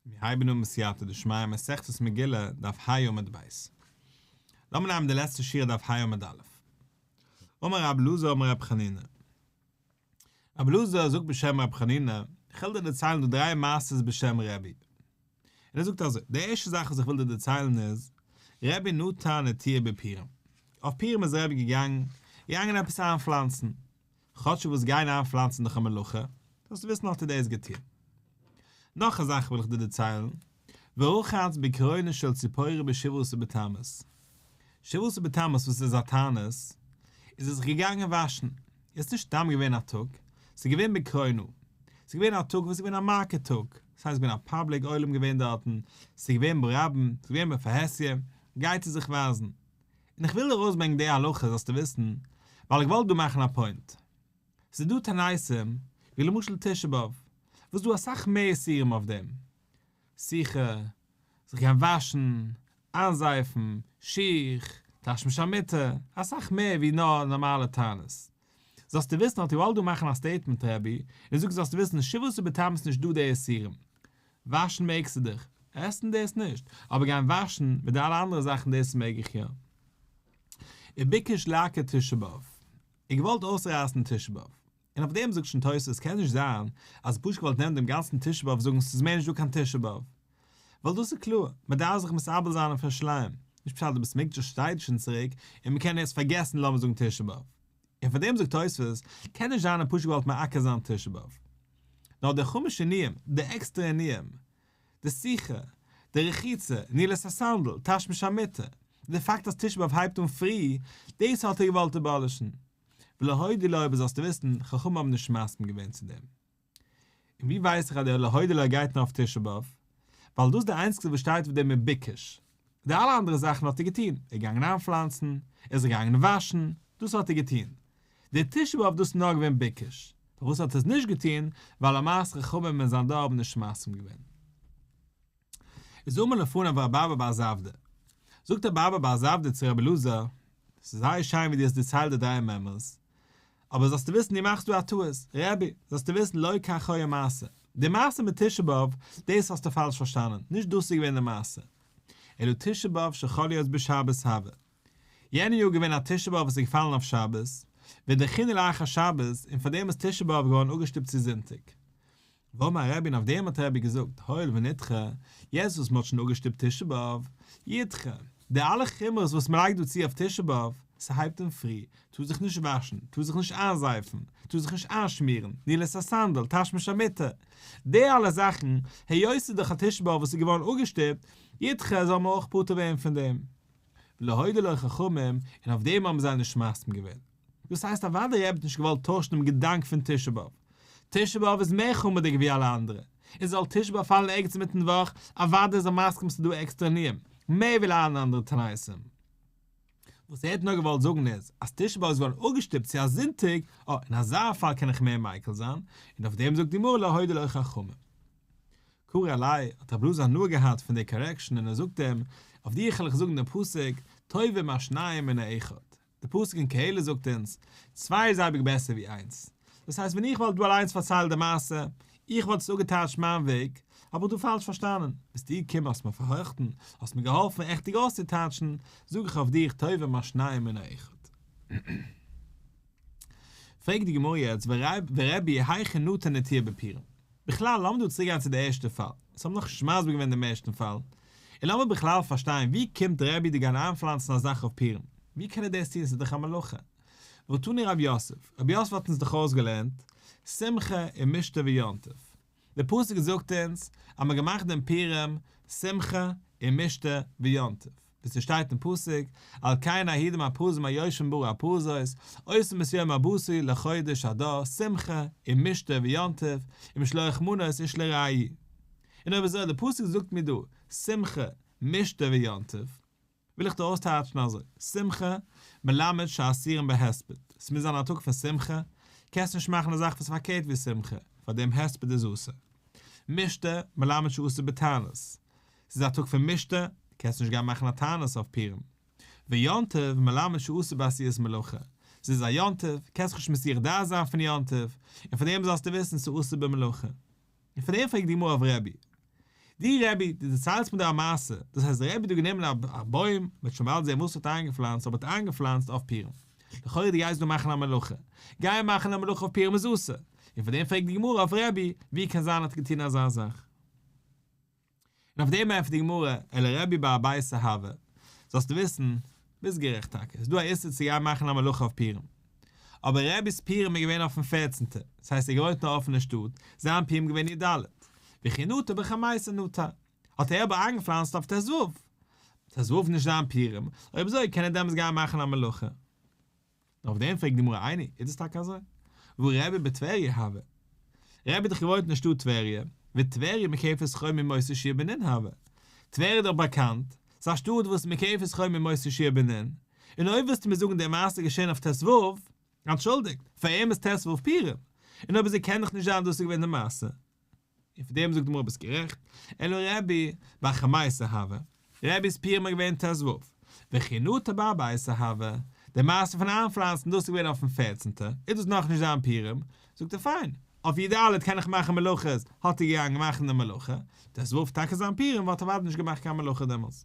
מיר הייבן אן בסייעתא דשמיא מסכת מגילה דף ה עמוד ב'. לאמיר נעמען די לעצטע שורה דף ה עמוד א'. אמר רבי אלעזר אמר רבי חנינא. רבי אלעזר זאגט בשם רבי חנינא, איך העל דיר דערציילן דא דריי מעשה'ס בשם רבי. און ער זאגט אזוי, די ערשטע זאך וואס איך וויל דיר דערציילן איז, רבי נתן התיר בפירם, אויף פירם איז רבי געגאנגען געגאנגען עפעס איינפלאנצן, כאטשיג וואס גיין איינפלאנצן איז דאך א מלאכה, זאלסטו וויסן האט ער דאס געטון. נאך א זאך וויל איך דיר דערציילן, ורחץ בקרונו של ציפורי בשבעה עשר בתמוז, שבעה עשר בתמוז וואס איז א תענית, איז ער זיך געגאנגען וואשן, עס איז נישט סתם געווען א טאג, עס איז געווען בקרונו, עס איז געווען א טאג וואס איז געווען א מכה טאג, ס'הייסט ס'איז געווען א פאבליק עולם געווען דארטן, ס'איז געווען ברבים, ס'איז געווען בפרהסיא, גייטסער זיך ווייזן. און איך וויל ארויסברענגן די הלכה זאלסטו וויסן, ווייל איך וואלט דא מאכן א פוינט. ס'איז דא תעניתים, ווי למשל תשעה באב, וואס דא אסאך מער איסורים אויף דעם. שיחה, זיך גיין וואשן, איינזייפן, שיך, טאשן מיט שארמיטע, אסאך מער ווי נאר נארמאלע תענית. זאלסטו וויסן האט יואל דא מאכן א סטעיטמענט רבי און זאגט זאלסטו וויסן אין שבועות ובתמוז איז נישט דא די איסורים וואשן מעגסטו דיך עסן דאס נישט אבער גיין וואשן מיט די אלע אנדערע זאכן דאס מעג איך יא און ביקש לעקר תשעה באב און געוואלט אויסרייסן תשעה באב און אויף דעם זאגט שוין תוס' קען נישט זיין אז פשוט געוואלט נעמען דעם גאנצן תשעה באב זאגן ס'איז מער נישט דא קיין תשעה באב ווייל דאס איז קלאר, מען דארף זיך מסרבל זיין און פארשלייען, נישט פשט אז די בית המקדש שטייט שוין צוריק און מען קען יעצט פארגעסן לאמיר זאגן תשעה באב, און פאר דעם זאגט תוספות, קען נישט זיין ער האט פשוט געוואלט מעקר זיין תשעה באב. נאר די חומש עניים, די עקסטערע עניים, די שיחה, די רחיצה, נעילת הסנדל, תשמיש המיטה, די פאקט אז תשעה באב הייבט אן פרי, דאס האט ער געוואלט אבאלישן. ולהודי' לאור וואס זאלסטו וויסן, חכמים האבן נישט מסכים געווען צו דעם. און ווי ווייס איך אז דער להודי' לו גייט נאר אויף תשעה באב? ווייל דאס איז די איינציגסטע וואס שטייט אויף דעם מבוקש. די אלע אנדערע זאכן האט ער געטון, ער איז געגאנגען איינפלאנצן, ער איז געגאנגען וואשן, דאס האט ער געטון. דער תשעה באב דאס איז נאר געווען בוקש. פארוואס האט ער עס נישט געטון? ווייל למעשה חכמים אין זיין דור האבן נישט מסכים געווען. איז אמאל לפניו רבי אבא בר זבדיה, זאגט רבי אבא בר זבדיה צו רבי אלעזר, ס'איז זייער שיין ווי דו האסט דערציילט די דריי מעמערס, אבער זאלסטו וויסן דו מאכסט דא א טעות, רבי, זאלסטו וויסן לא כך היה המעשה, די מעשה מיט תשעה באב, דאס האסטו פאלש פארשטאנען, נישט דאס איז געווען די מעשה, אלא תשעה באב שחל להיות בשבת הווה, יענע יאר איז געווען א תשעה באב וואס איז געפאלן אויף שבת, ודכינא לאחר שבת, און פארדעם איז תשעה באב געווארן אפגעשטופט צו זונטאג. ואמר רבין אויף דעם האט רבי געזאגט הואיל ונדחה, יעצט וואס מען האט שוין אפגעשטופט תשעה באב, ידחה, די אלע חומרות וואס מען לייגט דא צו אויף תשעה באב, ס'הייבט אן פרי, טוה זיך נישט וואשן, טוה זיך נישט איינזייפן, טוה זיך נישט איינשמירן, ניל עס א סענדל, תשמיש א מיטה, די אלע זאכן, היות ס'איז דאך א תשעה באב וואס איז געווארן אפגעשטופט, ידחה זאל מען אויך פטור ווערן פון דעם. ולהודו לחכמים, און אויף דעם האבן זיי נישט מסכים געווען. דאס הייסט אוודאי ער האט נישט געוואלט טוישן דעם געדאנק פון תשעה באב. תשעה באב איז מער חומרדיג ווי אלע אנדערע, און זאל תשעה באב פאלן ערגעץ אינמיטן וואך, אוודאי איז ער מסכים ס'דא עקסטערע ענינים, מער ווי אלע אנדערע תעניתים. וואס ער האט נאר געוואלט זאגן איז, אז תשעה באב איז געווארן אפגעשטופט צו א זונטאג, אה, אין אזא פאל קען איך מער מיקל זיין, און אויף דעם זאגט די גמרא לא הודיעו לו חכמים. קרא אלי' האט רב לוזי הנאה געהאט פון די קארעקשאן און ער זאגט אים, אויף דיר העל איך זאגן דעם פסוק, טובים השניים מן האחד. די פסוק אין קהלת זאגט אונז, צוויי איז אייביג בעסער ווי איינס. דאס הייסט ווען איך וואלט דא אליינס פארציילט די מעשה, איך וואלט עס אפגעטייטשט מיין וועג, האב איך דא פאלש פארשטאנען, ביסטו געקומען האסט מיר פארהארכטן, האסט מיר געהאלפן ריכטיג אויסצוטייטשן, זאג איך אויף דיך טובה מה שניים מן האחד. פרעגט די גמרא יעצט ורביה היכי נתן נטיעה בפירם. בכלל לאמיר דא צוריק גיין צו די ערשטע פאל, אונז האבן נאך נישט מסביר געווען דעם ערשטן פאל, און לאמיר בכלל פארשטיין, ווי קומט רבי די גיין איינפלאנצן א זאך אויף פורים? ווי קען ער דאס טון? ס'איז דאך א מלאכה. ותני רב יוסף, רבי יוסף האט אונז דאך אויסגעלערנט שמחה און משתה ויום טוב. די פסוק זאגט אונז אז מ'האט געמאכט דעם פורים שמחה און משתה ויום טוב. ווי ס'שטייט אין פסוק, על כן העידים הפרוזים היושבים בערי הפרוזות, עושים את יום הבשרי לחודש אדר שמחה און משתה ויום טוב, ומשלוח מנות איש לרעי'. און אויב אזוי, די פסוק זאגט מיר דא שמחה משתה ויום טוב, וויל איך דא אויסטייטשן אזוי, שמחה מלמד שאסירים בהספד, עס מוז זיין א טאג פון שמחה, קענסט נישט מאכן א זאך וואס איז פארקערט ווי שמחה, פאר דעם הספד איז אסור. משתה מלמד שאסור בתענית, עס איז א טאג פון משתה, קענסט נישט גיין מאכן א תענית אויף פורים. ויום טוב מלמד שאסור בעשיית מלאכה, עס איז א יום טוב, קענסט נישט מסיח דעת זיין פון יום טוב, און פאר דעם זאלסטו וויסן ס'איז אסור במלאכה. און פון דעם פרעגט די גמרא אויף רבי די רבי די דערציילסט מיר דא א מעשה דאס הייסט די רבי האט דא גענומען א בוים מען האט שוין באלד זעהן וואס מען האט איינגעפלאנצט אבער מען האט איינגעפלאנצט אויף פירן לכאורה די גייסט דא מאכן א מלאכה גיין מאכן א מלאכה אויף פירן איז אסור און פון דעם פרעגט די גמרא אויף רבי ווי קען זיין ער האט געטון אזא זאך. און אויף דעם ענטפערט די גמרא, אלא רבי בעל הבית אהבה, זאלסטו וויסן, ביסט גערעכט טאקע, ס'איז דא א איסור צו גיין מאכן א מלאכה אויף פורים, אבער רבי'ס פורים איז געווען אויפן פערצענטע, דאס הייסט ער האט געוואוינט אין א אפענע שטאט, זיין פורים איז געווען י ד, וכי נטע בחמייסא נטע, האט ער אבער איינגעפלאנצט אויף טז ו, טז ו איז נישט זיין פורים, אויב אזוי קען ער דעמאלטס גיין מאכן א מלאכה. אויף דעם פרעגט די גמרא עיני, איז דאס טאקע אזוי? והוא רבי בטבריה הוה. רבי האט דאך געוואוינט אין שטאט טבריה, וטבריה מקפת חום ממוצא שיר בנין הוה. טבריה איז דאך באקאנט, ס'איז א שטאט וואס איז מקפת חום ממוצא שיר בנין, און אויב ווילסטו מיר זאגן די מעשה איז געשען אויף טז וו, אנטשולדיגט, פאר אים איז טז וו פורים, און אויב אזוי קען דאך נישט זיין דאס איז געווען די מעשה. און פון דעם זאגט די גמרא ביסט גערעכט, אלא רבי בר חמא'יס אהבה, רבי'ס פירמע איז געווען ת ז וו, וחינותא בר אבא'יס אהבה, די מעשה פון איינפלאנצן דאס איז געווען אויפן פערצענטע, איז דאס נאכנישט זיין פירם, זאגט ער פיין, אויף י ד קען איך מאכן מלאכות, האט ער געגאנגען מאכן די מלאכה, ת ז וו טאקע זיין פירם וואלט ער אוודאי נישט געמאכט קיין מלאכה דעמאלס.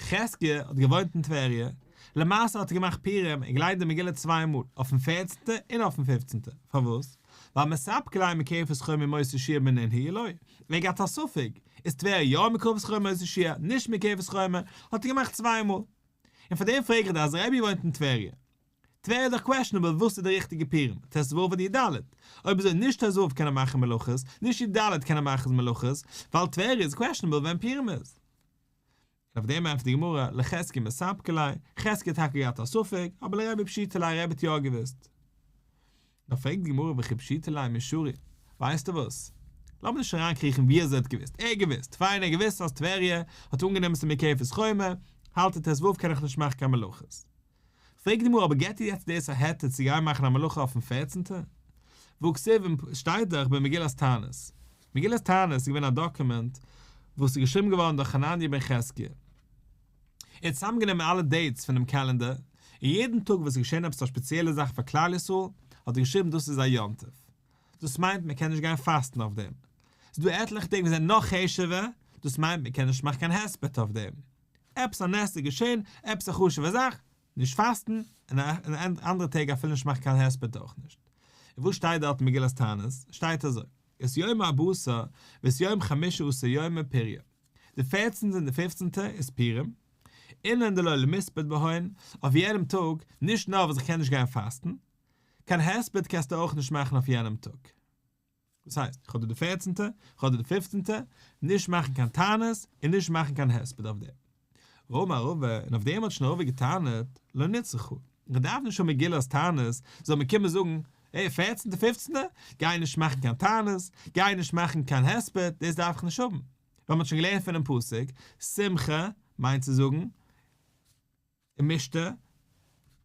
חזקיה האט געוואוינט אין טבריה, למעשה האט ער געמאכט פורים און געליינט די מגילה צוויי מאל, אויפן פערצנטע און אויפן פיפצנטע, פארוואס? ווייל מספק קלעין מקרבת חוה מ מוצאי שיעור מנין הי' לוי, ווען געהאט א ספק, איז טבריה יא מקרבת חוה מ מוצאי שיעור, נישט מקרבת חוה מ, האט ער געמאכט צוויי מאל. און פאר דעם פרעג איך דיר אז ר' אייבי וואוינט אין טבריה. טבריה איז דאך קוועשענעבל וואס איז די ריכטיגע פורים, ט' ו' אדער י' ד', אויב אזוי נישט ט' ו' קען ער מאכן מלאכות, נישט י' ד' קען ער מאכן מלאכות, ווייל טבריה איז קוועשענעבל ווען פורים איז. און אויף דעם ענטפערט די גמרא, לחזקי מספק ליה, חזקי האט טאקע געהאט א ספק, אבער לרבי פשיטא ליה, רבי האט יא געוואוסט. נאר פרעגט די גמרא וכי פשיטא ליה מישורי, ווייסטו וואס? לאמיר נישט אריינקריכן ווי אזוי ער האט געוואוסט, ער האט געוואוסט, פיין ער האט געוואוסט אז טבריה האט אנגענומען ס'מקוה פון סכומה, האלט ער ת ו קען איך נישט מאכן קיין מלאכות. פרעגט די גמרא, אבער געט איר יעצט דאס א היתר צו גיין מאכן א מלאכה אויפן פערצענטע? וכספים שטייט דאך במגילת תענית. מגילת תענית איז געווען א דאקומענט וואס איז געשריבן געווארן דורך חנניה בן חזקיה. ער האט צוזאמגענומען אלע דעיטס פונעם קעלענדער, און יעדן טאג וואס איז געשען עפעס א ספעציעלע זאך פאר כלל ישראל, האט ער געשריבן דאס איז א יום טוב. דאס מיינט מען קען נישט גיין פאסטן אויף דעם. ס'איז דא עטליכע טעג וואס זענען נאך חשוב'ער, דאס מיינט מען קען נישט מאכן קיין הספד אויף דעם. עפעס א נס איז געשען, עפעס א חשוב'ע זאך, נישט פאסטן, און אין אנדערע טעג אפילו נישט מאכן קיין הספד אויך נישט. און וואס שטייט דארט אין מגילת תענית? שטייט אזוי, את יום הבשר ואת יום חמישה עשר יומי פריה, די פערצנטע און די פופצנטע איז פורים, אינן דלא למספד בהן, אויף יענעם טאג, נישט נאר וואס איך קען נישט גיין פאסטן, קיין הספד קענסטו אויך נישט מאכן אויף יענעם טאג. דאס הייסט, איך האב דא די פערצענטע, איך האב דא די פיפצענטע, נישט מאכן קיין טענות און נישט מאכן קיין הספד אויף דעם. ר' אמר רבא, און אויף דעם האט שוין ר' אורי געטענה'ט, לא נצרכו, איך דארף נישט האבן מגילת טענות, זאל מען קומען זאגן, העי, פערצענטע פיפצענטע, גיי נישט מאכן קיין טענות, גיי נישט מאכן קיין הספד, דאס דארף איך נישט האבן. ווייל מען האט שוין געלערנט פונעם פסוק, שמחה מיינט צו זאגן, און משתה,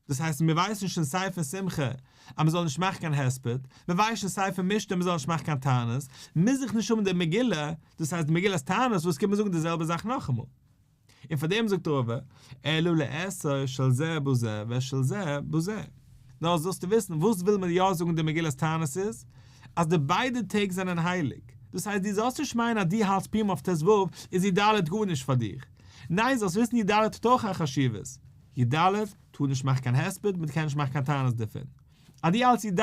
דאס הייסט מיר ווייסן נישט אין ספר שמחה אז מען זאל נישט מאכן קיין הספד, מיר ווייסן אין ספר משתה מען זאל נישט מאכן קיין תענית, מוז איך נישט האבן די מגילה, דאס הייסט די מגילת תענית וואס קומט מיר זאגן די זעלבע זאך נאכאמאל. און פאר דעם זאגט רב א, אלא לאסור של זה בזה ושל זה בזה. נאר זאלסטו וויסן וואס וויל מען יא זאגן די מגילת תענית איז, אז די ביידע טעג זענען הייליג, דאס הייסט דו זאלסט נישט מיינען אז דו האלטסט פורים אויף ט ו איז י ד גארנישט פאר דיר, ניין זאלסט וויסן י ד האט אויך א חשיבות, י ד טאר נישט מאכן קיין הספד מען קען נישט מאכן קיין טענות דערפון, אז דו האלטסט י ד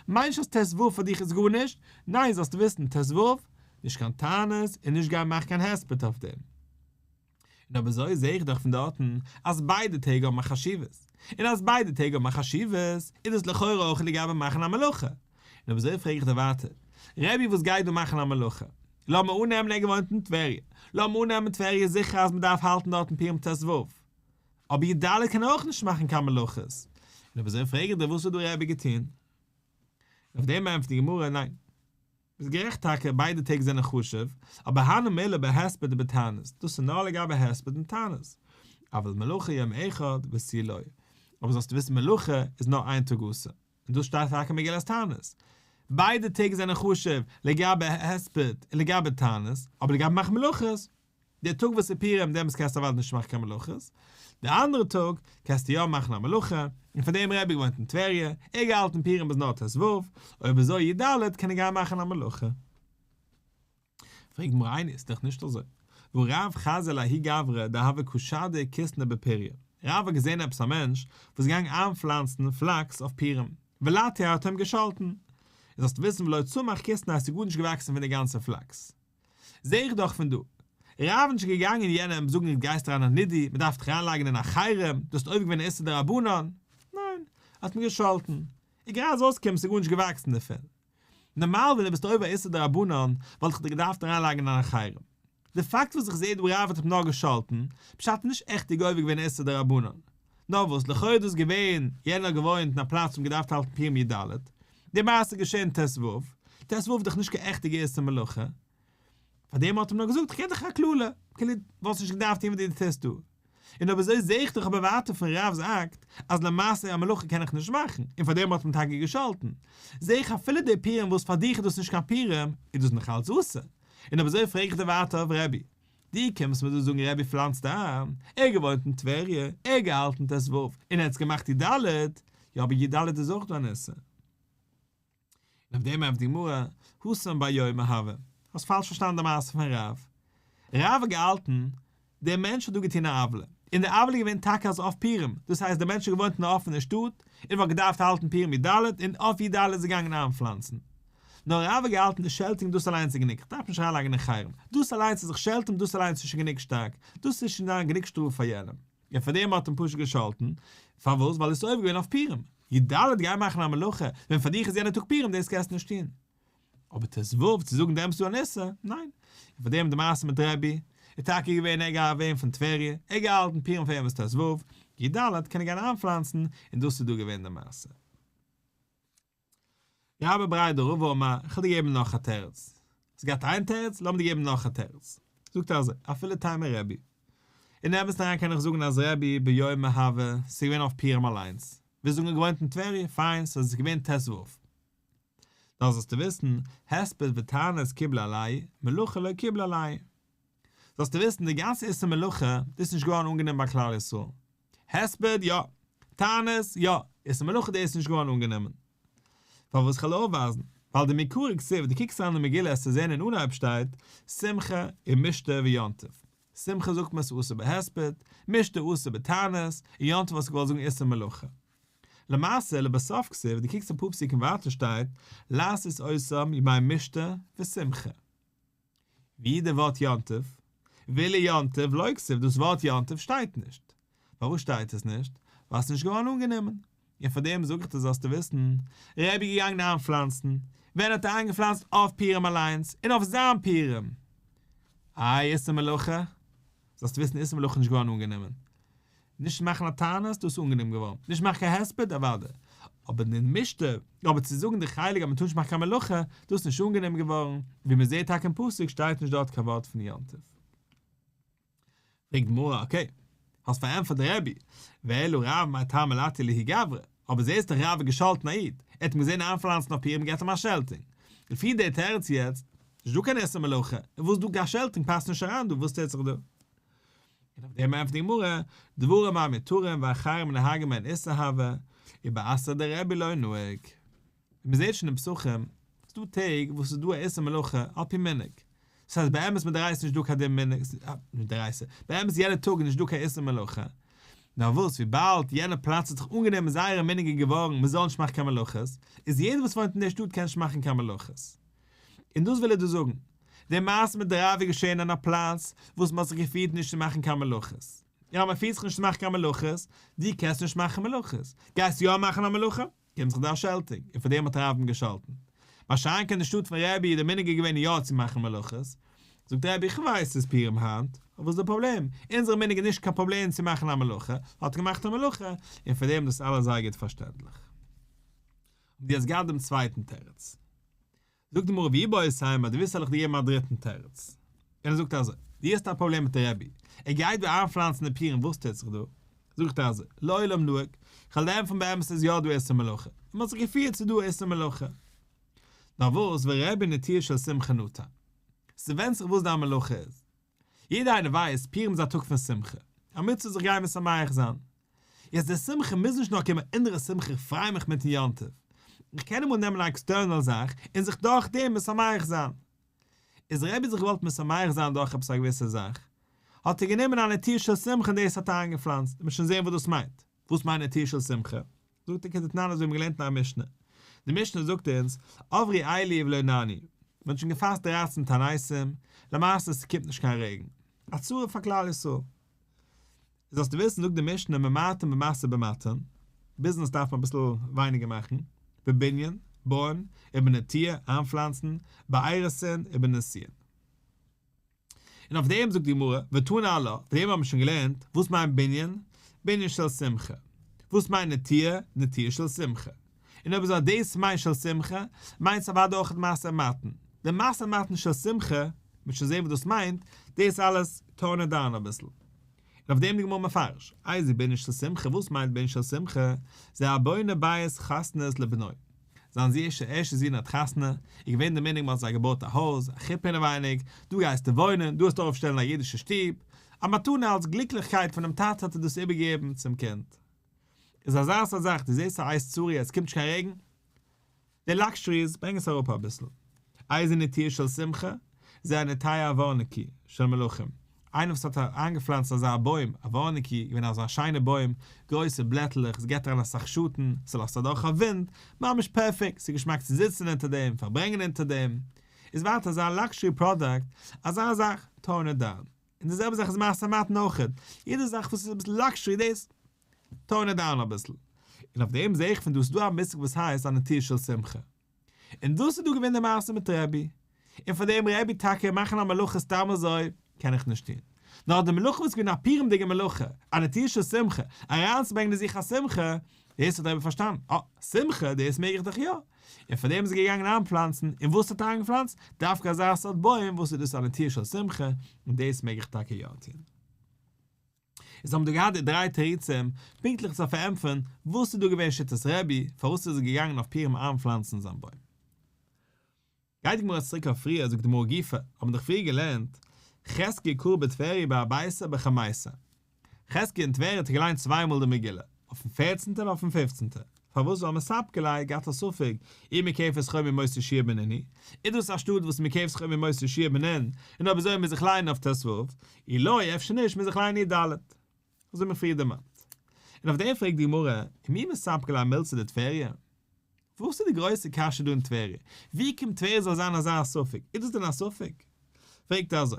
מיינט נישט אז ט ו פאר דיך איז גארנישט, ניין זאלסט וויסן ט ו נישט קיין טענות און נישט גיין מאכן קיין הספד אויף דעם. און אויב אזוי זעה איך דאך פון דארטן אז ביידע טעג האבן א חשיבות, און אז ביידע טעג האבן א חשיבות איז דאס לכאורה אויך לגבי מאכן א מלאכה, און אויב אזוי פרעג איך דיר ווייטער, רבי וואס גייט דא מאכן א מלוכה? לאמיר אננעמען ער געוואוינט אין טבריה, לאמיר אננעמען טבריה איז זיכער אז מ'דארף האלטן דארטן פורים ט ו, אבער י ד קען אויך נישט מאכן קיין מלוכות, און אויב אזוי פרעג איך דיר וואס האט דא רבי געטון? און אויף דעם ענטפערט די גמרא, ניין. ביסט גערעכט טאקע ביידע טעג זענען חשוב, אבער הנה מילה בהספד ובתענית, דאס איז נאר לגבי הספד און תענית, אבל מלוכה יום אחד וסילוי, אבער זאלסטו וויסן מלוכה איז נאר איין טאג אסור. און דאס שטייט טאקע אין מגילת תענית. ביידע טעג זענען חשוב לגבי הספד און לגבי תענית, אבער לגבי מאכן מלאכות, די טאג וואס איז פורים דעמאלס קענסטו אוודאי נישט מאכן קיין מלאכות, די אנדערע טאג קענסטו יא מאכן א מלאכה, און פון דעם רבי געוואוינט אין טבריה, ער האט געהאלטן פורים ביז נאר ט ו, אויב איז אור י ד קען ער גיין מאכן א מלאכה. פרעג מיר איינער איז דאך נישט אזוי. וואו רב חזי ל הי' גברא דהבה ק שדי כסלו בפריה רב האט געזעהן עפעס א מענטש וואס איז געגאנגען איינפלאנצן פלאקס אויף פירם ולא תהיה האט ער אים געשאלטן און זאלסט וויסן ולא צמח כסלו אז ס'איז גארנישט געוואקסן פון די גאנצע פלאקס זעה איך דאך פון דא רב נישט געגאנגען יענעם זאגן איצט גייסטו אריין אין א נדי מ'דארף דיך אריינלייגן אין א חרם דו האסט עובר געווען א איסור דרבנן ניין ער האט אים געשאלטן איגער אז אויסקומען ס'איז גארנישט געוואקסן דערפון נארמאל ווען דו ביסט עובר איסור דרבנן וואלט איך דיר געדארפט אריינלייגן אין א חרם. די פאקט וואס איך זעה דו רב האט אים נאר געשאלטן, פשט איז נישט עכט ער עובר געווען איסור דרבנן. נאר וואס, לכאו' איז דאס געווען, יענער האט געוואוינט אין א פלאץ וואו מ'געדארפט האלטן פורים י ד, די מעשה איז געשען ת ו, ת ו איז דאך נישט קיין עכטיגע איסור מלאכה, פאר דעם האט ער נאר געזאגט כ'געב דיך א קללה, כאילו וואלסט נישט געדארפט טון וואס דו טוסט דא. און אויב אזוי זעה איך דאך אבער ווייטער פון רב'ס אקט אז למעשה א מלאכה קען איך נישט מאכן, און פאר דעם האט מען טאקע געשאלטן. זעה איך אפילו די פורים וואס פאר דיך איז דאס נישט קיין פורים, איז דאס נאך אלץ אסור. און אויב אזוי פרעג איך דיר ווייטער אויף רבי. דו קומסט מיר דא זאגן רבי פלאנצט איין, ער געוואוינט אין טבריה, ער געהאלטן ת ס, און ער האט עס געמאכט י ד, יא אבער י ד איז אויך דא אן איסור. און אויף דעם ענפט די גמרא, הושם בר יומא הוה, האסט פאלש פארשטאנען די מעשה פון רב. רב האט געהאלטן, דער מענטש האט דא געטון א עוולה, און די עוולה איז געווען טאקע אז אויף פורים, דאס הייסט דער מענטש האט געוואוינט אין א אפענער שטאט, און וואלט געדארפט האלטן פורים י ד, און אויף י ד איז ער געגאנגען איינפלאנצן. נאר רב האט געהאלטן די שעלטונג דאס אליינס איז גענוג, כ'דארף נישט אריינלייגן אין חרם, דאס אליינס צו זיך שעלטען דאס אליינס איז שוין גענוג שטארק, דאס איז שוין דאן גענוג שטראף פאר יענעם. און פאר דעם האט אים פשוט געשאלטן, פארוואס? ווייל דאס איז עובר געווען אויף פורים. י ד גיי מאכן א מלאכה, ווען פאר דיך איז יענער טאג פורים, דאס קענסטו נישט טון. אבער ט ו, צו זאגן דעמאלטס דא אן איסור, ניין. און פאר דעם די מעשה מיט רבי, איז טאקע געווען ער געהאט ווען פון טבריה, ער האט געהאלטן פורים פאר ערבות ט ו, י ד קען ער גיין איינפלאנצן, און דאס איז דא געווען די מעשה. רבי בריידא רבא אמר, איך וועל דיר געבן נאך א תירוץ. האסט געהאט איין תירוץ, לאמיר דיר געבן נאך א תירוץ. זאגט ער אזוי, אפילו טעמי רבי. אין אמת אריין קען איך זאגן אז רבי ביומא הווה, ס'איז געווען אויף פירם אליינס. ווי זאגן געוואוינט אין טבריה, פיין, ס'איז עס געווען ת ו. דאס זאלסטו וויסן, הספד וטענות קיבלו עלי, מלוכה לא קיבלו עלי. זאלסטו וויסן, די גאנצע איסור מלוכה, דאס איז נישט געווארן אנגענומען ביי כלל ישראל. הספד, יא. טענות, יא. איז די מלאכה דעות נישט געווארן אנגענומען. פארוואס כ'על אויפווייזן? ווייל די מקורי כסוף, די קוקסט אריין אין די מגילה העסטו זעהן אין אנהייב שטייט, שמחה און משתה ויום טוב. שמחה זאגט מען ס'אסור בהספד, משתה אסור בטענות, און יום טוב האסטו געוואלט זאגן איסור מלאכה. למעשה, לבסוף כסוף, די קוקסט אפאר פסוקים ווייטער שטייט, לעשות עושים ימי משתה ושמחה. ווי די ווארט יום טוב? ווילי יום טוב לא כסוף, דאס ווארט יום טוב שטייט נישט. פארוואס שטייט עס נישט? ווייל ס'איז נישט געווארן אנגענומען. און פאר דעם זאג איך דיר זאלסטו וויסן, רבי איז געגאנגען איינפלאנצן, ווען האט ער איינגעפלאנצט? אויף פורים אליינס, און אויף זיין פורים. איי איסור מלאכה? זאלסטו וויסן איסור מלאכה איז נישט געווארן אנגענומען. נישט מאכן א תענית, דאס איז אנגענומען געווארן, נישט מאכן קיין הספד, אוודאי, אבער די משתה, אבער צו זאגן די חלק אז מען טאר נישט מאכן קיין מלאכה, דאס איז נישט אנגענומען געווארן, ווי מען זעט טאקע אין פסוק שטייט נישט דארט קיין ווארט פון יום טוב. פרעגט די גמרא, אקעי, האסט פארענטפערט די רבי, ואילו רב מאי טעמא לטי ליהי גברא, אבער זעסט דאך רב האט געשאלטן א איד, ער האט אים געזען איינפלאנצן אויף פירות מען געט אים א שעלטינג, לפי די תירוץ יעצט, נישט דא קיין איסור מלאכה, און וואס דא קיין שעלטינג פאסט נישט אריין דא, וואס טוט זיך דא? דעם ענפערט די גמרא, דברים מה מתירים ואחרים נהגים אין איסור הוה, ובאסר דער רבי לא נוהג. ווי מען זעט שוין אין פסחים, ס'איז דא טעג וואס איז דא א איסור מלאכה על פי מנהג. דאס הייסט באמת מיט דער עשה איז נישט דא קיין דין מנהג, נישט דער עשה, באמת יעדע טאג איז נישט דא קיין איסור מלאכה, נאר וואס וויבאלד יענע פלאץ האט זיך אנגענומען זייערע מנהגי געווארן מען זאל נישט מאכן קיין מלאכות, איז יעדער וואס וואוינט אין דער שטאט קען נישט מאכן קיין מלאכות. און דאס וויל ער דא זאגן, די מעשה מיט די רב איז געשען אין א פלאץ וואס מ'האט זיך געפירט נישט צו מאכן קיין מלאכות. יא, מ'פירט זיך נישט צו מאכן קיין מלאכות, דו קענסט נישט מאכן מלאכות, גייסט יא מאכן א מלאכה? קומט זיך דא א שעלטונג, און פאר דעם האט הרב אים געשאלטן. ביי שאנק אין די שטאט פון רבי איז די מנהג געווען יא צו מאכן מלאכות. זאגט רבי, איך ווייס ס'איז פורים היינט, אבער וואס איז די פראבלעם? אונזער מנהג איז נישט קיין פראבלעם צו מאכן א מלאכה, האט געמאכט א מלאכה, און פאר דעם דאס אלעס זייער גוט פארשטענדליך. האבן די אז געהאט דעם צווייטן תירוץ. זאגט אים רבי אבער סיימא דו ווילסט זאל איך דיר געבן א דריטן תירוץ? און ער זאגט אזוי, דו האסט א פראבלעם מיט די רבי, ער גייט דא איינפלאנצן די פירן וואס טוט זיך דא? זאגט ער אזוי, לעולם נוהג, כ'וועל לערנען פון באמת איז יא דא איסור מלאכה, און מ'האט זיך געפירט ס'איז דא איסור מלאכה. נאר וואס, ורבי נטי' של שמחה נוטה. ס'ווענדט זיך וואס דיין מלאכה איז. יעדער איינער ווייסט, פורים איז א טאג פון שמחה, א מצוה זיך גיין משמח זיין. יעצט די שמחה מוז נישט נאר קומען אונער שמחה איך פריי מיך מיטן יום טוב. איך קען אמאל נעמען א עקסטערנעל זאך און זיך דורך דעם משמח זיין. איז ר' איז זיך געוואלט משמח זיין דורך עפעס א געוויסע זאך, האט ער גענומען א נטיעה של שמחה און דאס האט אריינגעפלאנצט, מ'וועט שוין זען וואס דאס מיינט. וואס מיינט נטיעה של שמחה? זאגט ער כדתנן אזוי האבן מיר געלערנט אין א משנה, די משנה זאגט אונז עברי איילי ולא נעני, מען האט שוין געפאסט דרייצן תעניתים, למעשה ס'קומט נישט קיין רעגן, א צרה פאר כלל ישראל, זאלסטו וויסן זאגט די משנה ממעטין במעשה במעטין, ביזנעס דארף מען אביסל ווייניגער מאכן, בבנין, בויען, ובנטיעה, איינפלאנצן, באיירעסען, ובנסיען. און אויף דעם זאגט די גמרא, ותנא לה, וועגן דעם האבן מיר שוין געלערנט, וואס מיינט בנין? בנין של שמחה. וואס מיינט נטיעה? נטיעה של שמחה. און אויב זאל דאס מיינט של שמחה, מיינט עס אוודאי אויך די מעשה המתן. די מעשה המתן של שמחה, וועט מען שוין זען וואס דאס מיינט, דאס אלעס טארן אונז דן אביסל. און אויף דעם די גמרא מפרש, איז בנין של שמחה, וואס מיינט בנין של שמחה? זה הבונה בית חתנות לבנו. זיין זי ש ערשטע זון האט חתונה, איז געווען די מנהג מ'האט זיי געבויט א הויז, א חופה אינעווייניג, דא גייסטו וואוינען, דא האסטו אויפשטעלן א אידישע שטוב, א מתנה אלס גליקליכקייט פונעם טאטע האט ער דאס איבערגעגעבן צום קינד. איז אזא סארט זאך, דו זעסט א אייז צורי אז ס'קומט נישט קיין רעגן, די לאקשעריס ברענג עס אראפ אביסל, אייזערנע טיר של שמחה, זה הנטעי אווארניקי, של מלכים. איינער וואס האט איינגעפלאנצט אזא בוים, אווארניקי, איז געווען אזא שיינע בוים, גרויסע בלעטלעך, עס געט אריין אסאך שאטן, ס'לאזט אדורך א ווינט, ממש פערפעקט, ס'איז געשמאק צו זיצן אונטער דעם, פארברענגען אונטער דעם. איז ווייטער אזא לאקשערי פראדאקט, אזא זאך, טאון איט דאון. און די זעלבע זאך איז מעשה המתן אויכעט, יעדע זאך וואס איז אביסל לאקשערי דאס, טאון איט דאון אביסל. און אויף דעם זעה איך פון דא ס'דא א מושג וואס הייסט א נטיר של שמחה. און דאס איז דא געווען די מעשה מיט רבי, און פאר דעם רבי טאקע מאכן א מלאכה סתם אזוי קען איך נישט טון, נאר די מלאכה וואס איז געווען א פורים'דיגע מלאכה, א נטיעה של שמחה, אריינצוברענגען אין זיך א שמחה, דאס האט רבי פארשטאנען, אה, שמחה, דאס מעג איך דאך יא, און פאר דעם איז ער געגאנגען איינפלאנצן, און וואס האט ער איינגעפלאנצט? דווקא אזא סארט בוים וואס איז דאס א נטיעה של שמחה, און דאס מעג איך טאקע יא טון. און זיי האבן דא געהאט די דריי תירוצים פונקטליך צו פארענטפערן וואס איז דא געווען שיטת רבי פארוואס איז ער געגאנגען אויף פירים איינפלאנצן זיין בוים. גייט די גמרא צוריק אויף פריער זאגט די גמרא גופא האבן דאך פריער געלערנט חזקיה קרא בטבריה בארבעתא בחמעשא חזקיה אין טבריה האט ער געליינט צוויי מאל די מגילה אויפן פערצנטע און אויפן פיפצנטע פארוואס זאל מען ספקעליי גאט א ספק אי מקעף את חומר מוסר שיער בנני? איז דאס א שטאט וואס מקעף את חומר מוסר שיער בנין און אויב אזוי מוז איך ליינען אויף ת ו, אי לא אפשר נישט מוז איך ליינען אי ד, אזוי האב איך פריער דערמאנט. און אויף דעם פרעגט די גמרא, און מי מספקא ליה מילתא דטבריא? וואס איז די גרויסע קשיא דא אין טבריה? ווי קומט טבריה זאל זיין אזא ספק? איז דאס דען א ספק? פרעגט ער אזוי.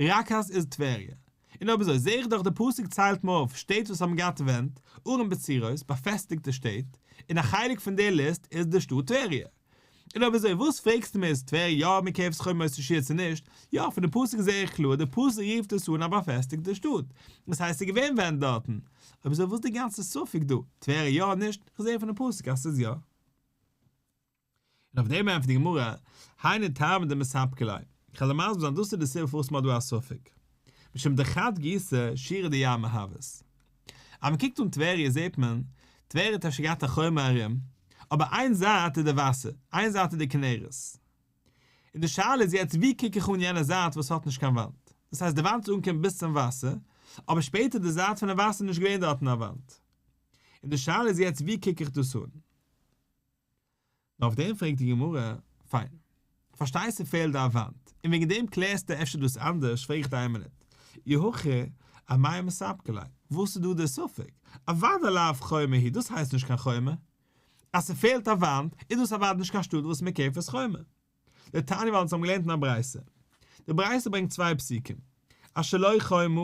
ראקאס איז טבריה. און אויב אזוי זעה איך דאך די פסוק ציילט מיר אויף שטעט וואס האבן געהאט ווענט, ערים בצירות, באפעסטיגטע שטעט, און א חלק פון די ליסט איז די שטאט טבריה. און אויב אזוי וואס פרעגסטו מיר איז טבריה יא מקרב סכום מות תשיעא צו נישט? יא, פון די פסוק זעה איך קלאר די פסוק רופט עס אן א באפעסטיגטע שטאט. דאס הייסט ס'איז געווען ווענט דארטן. אויב אזוי וואס די גאנצע ספק דא? טבריה יא נישט? כ'זעה פון די פסוק אז ס'איז יא. און אויף דעם ענטפערט די גמרא, היינו טעמא דמספקא ליה, כ'האב דעם מסביר זיין דאס איז די סיבה פארוואס מ'האט דא א ספק, משום דחד גיסא שירא דאייה מהוות. אז מ'קוקט אן טבריה זעט מען, טבריה האט אפשר געהאט א חומה ארום, אבער איין זייט איז די וואסער, איין זייט איז די כנרת. און די שאלה איז יעצט ווי קוק איך אן יענע זייט וואס האט נישט קיין וואנט? דאס הייסט די וואנט איז אנגעקומען ביז צום וואסער, אבער שפעטער איז די זייט פונעם וואסער נישט געווען דארטן א וואנט. און די שאלה איז יעצט ווי קוק איך דאס אן? נו אויף דעם פרעגט די גמרא, פיין, פארשטייסטו פעלט דא א וואנט, און וועגן דעם קלערסטו אפשר דאס אנדערש, פרעג איך דיין עמלק, אי הכי, א מאי מספקא ליה, וואס איז דא דער ספק, אוודאי לאו חומה היא, דאס הייסט נישט קיין חומה, אז ס'פעלט א וואנט, איז דאס אוודאי נישט קיין שטאט וואס מ'קערט עס חומה. די תניא ווייל אונז האבן געלערנט אין א ברייתא. די ברייתא ברענגט צוויי פסוקים, אז שלא חומה,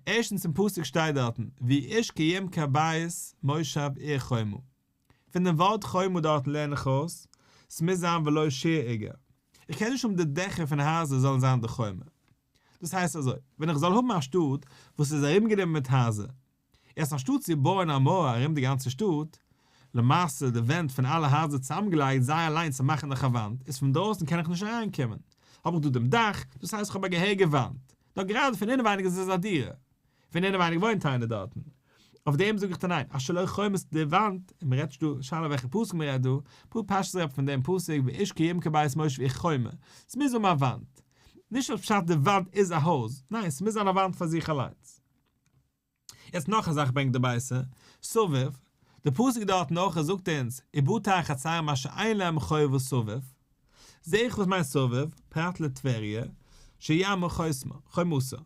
ערשטנס אין פסוק שטייט דארטן, ויעש כיעמקי הבית מושב עיר חומה. פון דעם ווארט חומה דארטן לערן איך אויס, ס'מוז זיין ולא שיר איגר. איך קען נישט האבן די דעכער פון הייזער זאלן זיין די חומה. דאס הייסט אזוי, ווען איך זאל האבן א שטאט וואס איז ארומגענומען מיט הייזער, יעצט אנשטאט צו בויען א מויער ארום די גאנצע שטאט, למעשה די ווענט פון אלע הייזער צוזאמגעלייגט זיי אליין צו מאכן נאך א וואנט, איז פון דרויסן קען איך נישט אריינקומען, האב איך דא דעם דאך, דאס הייסט איך האב א געהעריגע וואנט. נאר גראדע פון אינעווייניג איז עס א דירה. פון אינעווייניג וואוינט איינער דארטן. אויף דעם זאג איך דיר ניין, אז שלא חומס די וואנט, און מ'רעדט נישט דא, שאלה וועלכע פסוק מ'רעדט דא, פאר פשטות רעדט מען פון דעם פסוק ואיש כי ימכור בית מושב איך חומה, ס'מוז האבן א וואנט. נישט אז פשט די וואנט איז א הויז, ניין ס'מוז זיין א וואנט פאר זיך אליינס. יעצט נאך א זאך ברענגט דער בית א, סובב, די פסוק דארטן אויך ער זאגט אונז, ובאתר החצרים אשר אין להם חובה וסובב, זעה איך וואס מיינט סובב, פרט לטבריה, שיעמר חומסו.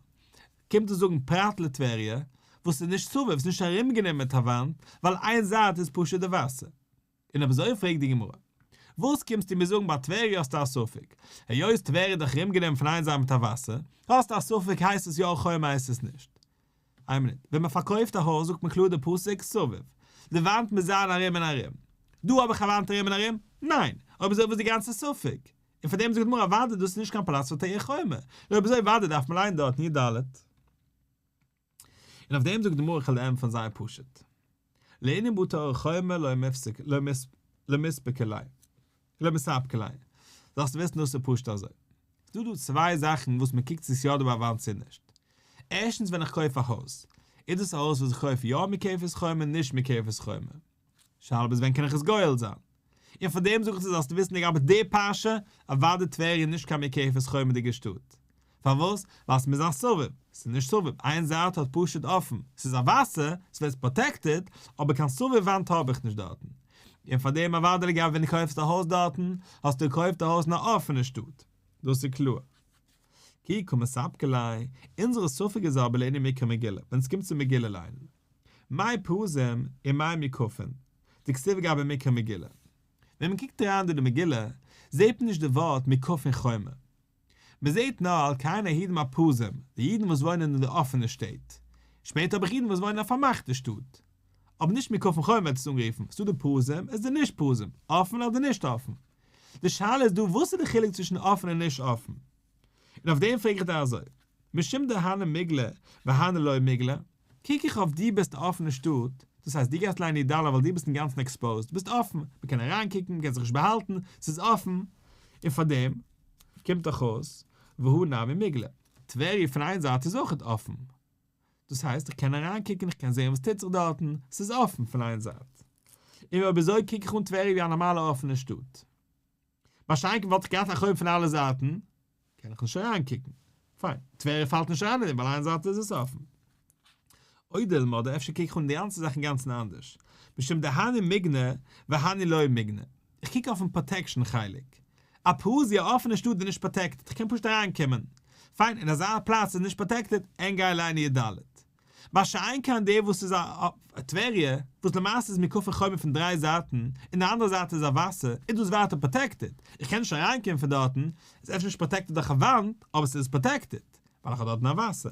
קומט צו זאגן פרט לטבריה וואס איז נישט סובב, ס'איז נישט ארומגענומען מיט א וואנט, ווייל איין זייט איז פשוט די וואסער. און אויב אזוי פרעגט די גמרא, וואס קומסטו מיר זאגן ביי טבריה האסטו א ספק, היות טבריה איז דאך ארומגענומען פון איין זייט מיט א וואסער, האסטו א ספק הייסט עס יא א חומה הייסט עס נישט? איין מינוט, ווען מען פארקויפט א הויז זאגט מען קלאר די פסוק סובב, די וואנט מוז זיין ארום און ארום, דא האב איך א וואנט ארום און ארום? ניין! אויב אזוי וואס איז די גאנצע ספק? און פאר דעם זאגט די גמרא אוואדי דאס איז נישט קיין פלאץ פאר תורה חומה, נו אויב אזוי אוואדי דארף מען לייענען דארטן י ד. און אויף דעם זאגט די גמרא איך העל ענטפערן זייער פשוט. לענין בו תורה חומה לא מפסיק לא לא מספיקה ליה לא מספקה ליה. זאלסטו וויסן דאס איז פשוט אזוי. ס'דא דא צוויי זאכן וואס מען קוקט צו ס'איז יא דא ביי א וואנט צו נישט. ערשטנס ווען איך קויף א הויז, איז דאס א הויז וואס איך קויף יא מקופת חומה נישט מקופת חומה. שאלה ביז ווען קען איך עס גואל זיין? און פאר דעם זאג איך צו זאלסטו וויסן לגבי די פרשה, אוואדי טבריה איז נישט קיין מקעפת חומה'דיגע שטאט. פארוואס? ווייל ס'מוז זיין סובב. ס'איז נישט סובב, איין זייט האט פשוט אפען, ס'איז א וואסער, ס'וועסט פראטעקטעד, אבער קיין סובב וואנט האב איך נישט דארטן. און פאר דעם אוואדי לגבי ווען קויפסט א הויז דארטן, האסטו געקויפט א הויז אין א אפענע שטאט. דאס איז קלאר. כי קא מספקא ליה, אונזערע ספק איז אבער לעיני מקרא מגילה, ווען עס קומט צו מגילה ליינען. מאי פרזים און מאי מיקופין, די כתיבה גייט ביי מקרא מגילה. ווען מען קוקט אריין אין די מגילה, זעט מען נישט די ווארט מיקופין חומה. מען זעט נאר על כן העידים הפרזים, די אידן וואס וואוינען אין די אפענע שטעט. שפעטער האב איך אידן וואס וואוינען אין א פארמאכטע שטאט. אבער נישט מיקופין חומה ווערט עס אנגערופן, ס'דא די פרזים, עס איז די נישט פרזים, אפען אדער נישט אפען. די שאלה איז דא וואס איז די חילוק צווישן אפן און נישט אפן? און אויף דעם פרעג איך דיר אזוי, משום דהנה מיגלה והנה לא מיגלה, קוק איך אויף דו ביסט אפן אין שטאט, דאס הייסט דו גייסט ליינען איד אלל ווייל דו ביסט אינגאנצן עקספאוזד, דו ביסט אפן, מען קען אריינקוקן, מען קען זיך נישט באהאלטן, ס'איז אפן, און פאר דעם קומט דאך אויס והוא נמי מיגלה. טבריה פון איין זייט איז אויכעט אפן, דאס הייסט איך קען אריינקוקן איך קען זעהן וואס טוט זיך דארטן, ס'איז אפן פון איין זייט. און אויב אזוי קוק איך אן טבריה ווי א נארמאלע אפענע שטאט. ביי שיינקין וואלט איך געהאט א חוב פון אלע זייטן, קען איך נישט אריינקוקן. פיין, טבריה פאלט נישט אריין אין דעם ווייל איין זייט איז עס אפן. אוי דילמא, אדער אפשר קוק איך אן די גאנצע זאך אינגאנצן אנדערש. משום דהני מיגנא והני לא מיגנא. איך קוק אויפן פראטעקשן חלק. א פראז ווי א אפענע שטאט איז נישט פראטעקטעד, איך קען פשוט אריין קומען. פיין, און אזא פלאץ איז נישט פראטעקטעד, עיין גיי ליין י ד. מה שאין כן דער וואס איז א טבריה, וואס למעשה איז מוקפי חומה פון דריי זייטן, און די אנדערע זייט איז א וואסער, איז דאס ווייטער פראטעקטעד. איך קען נישט אריין קומען פון דארטן, עס איז אפשר נישט פראטעקטעד דורך א וואנט, אבער עס איז פראטעקטעד, ווייל איך האב דארטן א וואסער.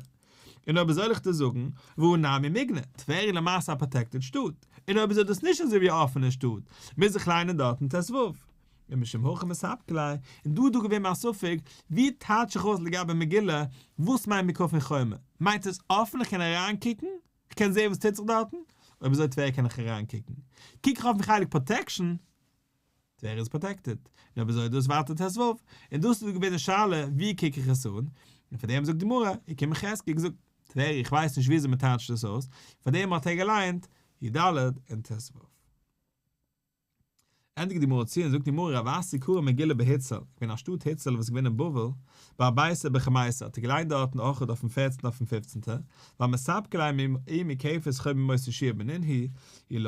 און אויב זאל איך דיר זאגן, והוא נמי מגנט, טבריה איז למעשה א פראטעקטעד שטאט, און אויב איז דאס נישט אזויווי א אפענע שטאט, מוז איך ליינען דארטן ט ו. ומשום הכי מספק ליה, און דא איז דא געווען מיין ספק, ווי טייטש איך אויס לגבי מגילה, וואס מיינט מיקפי חומה? מיינט עס אפן איך קען אריינקוקן? איך קען זעהן וואס טוט זיך דארטן? אויב איז אזוי טבריה קען איך אריינקוקן. קוק איך אויפן חלק פראטעקשן. ווער איז פראטעקטעד? ר' זאב דאס ווייטער ת ו, און דאס איז געווען די שאלה ווי קוק איך עס אן, און פאר דעם זאגט די גמרא, און כ מ חז ג זאגט, טבריה איך ווייס נישט וויאזוי מען טייטשט דאס אויס, פאר דעם האט ער געליינט י ד און ת ו. ענדיגט די גמרא צו און זאגט די מרא רב אסי קרא מגילה בהיצל, איך בין א שטאט היצל וואס איז געווען אין בבל, ביי בייסער ביי חמייסער האט ער געליינט דארטן אויכעט אויפן פערצנטע אויפן פיפצנטע, ביי מספקא ליה מ ע מ כעפעס חוה מ מוצ ש בנין הי ל.